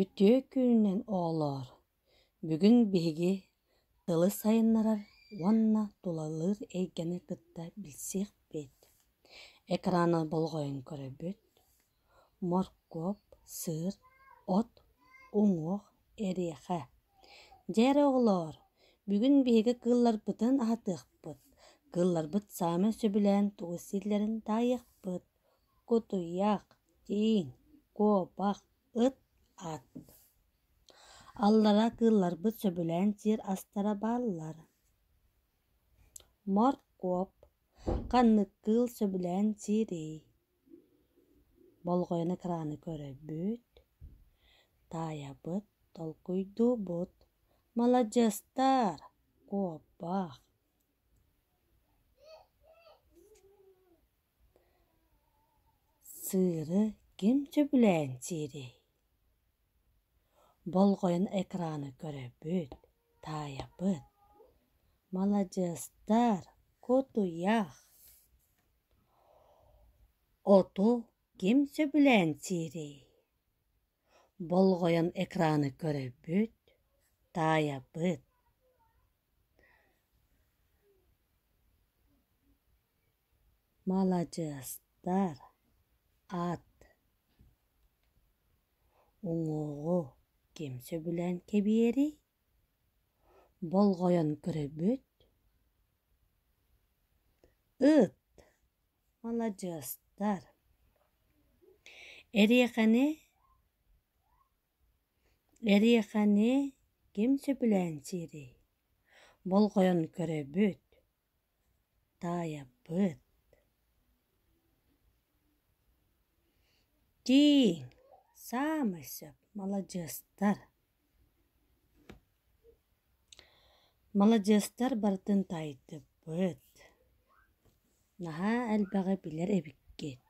Үтүө күнүнэн оҕолоор! Бүгүн биһиги тылы сайыннарар уонна тулалыыр эйгэни кытта билсиэхпит. Экраҥҥа болҕойон көрөбүт: моркуоп, сыыр, от, уҥуох, эриэхэ. Дьэ эрэ оҕолоор, бүгүн биһиги кыылларбытын аһатыахпыт. Кыылларбыт саамай сөбүлээн тугу сииллэрин таайыахпыт. кутуйах, тииҥ, куобах, ыт, ат Аллара кыылларбыт сөбүлээн сиэр астара бааллар. Моркуоп, ханнык кыыл сөбүлээн сиэрий? Болҕойон экраны көрөбүт. Таайабыт, толкуйдуубут. Маладьыастар! Куобах. Сыыры ким сөбүлээн сиэрэй? Болҕойон экраны көрөбүт, таайабыт. Маладьыастар, кутуйах. Оту ким сөбүлээн сиэрэй? Болҕойон экраны көрөбүт, таайабыт. маладьыастар аат уҥуоҕу ким сөбүлээн кэбиэрий болҕойон көрөбүт ыт маладьыастар эриэхэни Эриэхэни ким сөбүлээн сиэрий? Болҕойон көрөбүт, таайаппыт. Тииҥ, саамай сөп, маладьыастар. Маладьыастар барытын таайдыбыт. Наһаа элбэҕи билэр эбиккит.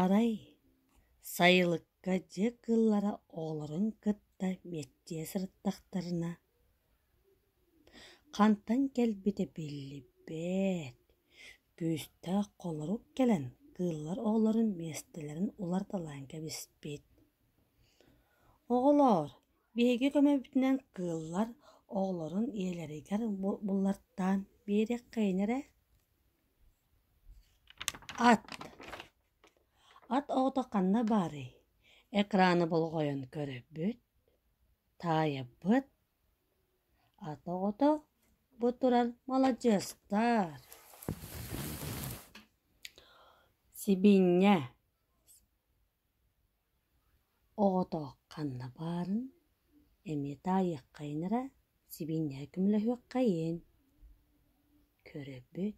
Арай сайылыкка дьиэ кыыллара оҕолорун кытта мэттийэ сырыттахтарына, хантан кэлбитэ биллибэт, күүстээх холорук кэлэн кыыллар оҕолорун миэстэлэрин уларыталаан кэбиспит. Оҕолоор, Биһиги көмөбүтүнэн кыыллар оҕолорун ийэлэригэр буллартаан биэриэххэйин эрэ Ат Ат оҕото ханна баарый? Экраны болҕойон көрөбүт, таайабыт. Ат оҕото бу турар маладьыастар. Сибиинньэ Оҕото ханна баарын эмиэ таайыаххайын эрэ, сибиинньэҕэ көмөлөһүөххэйин көрөбүт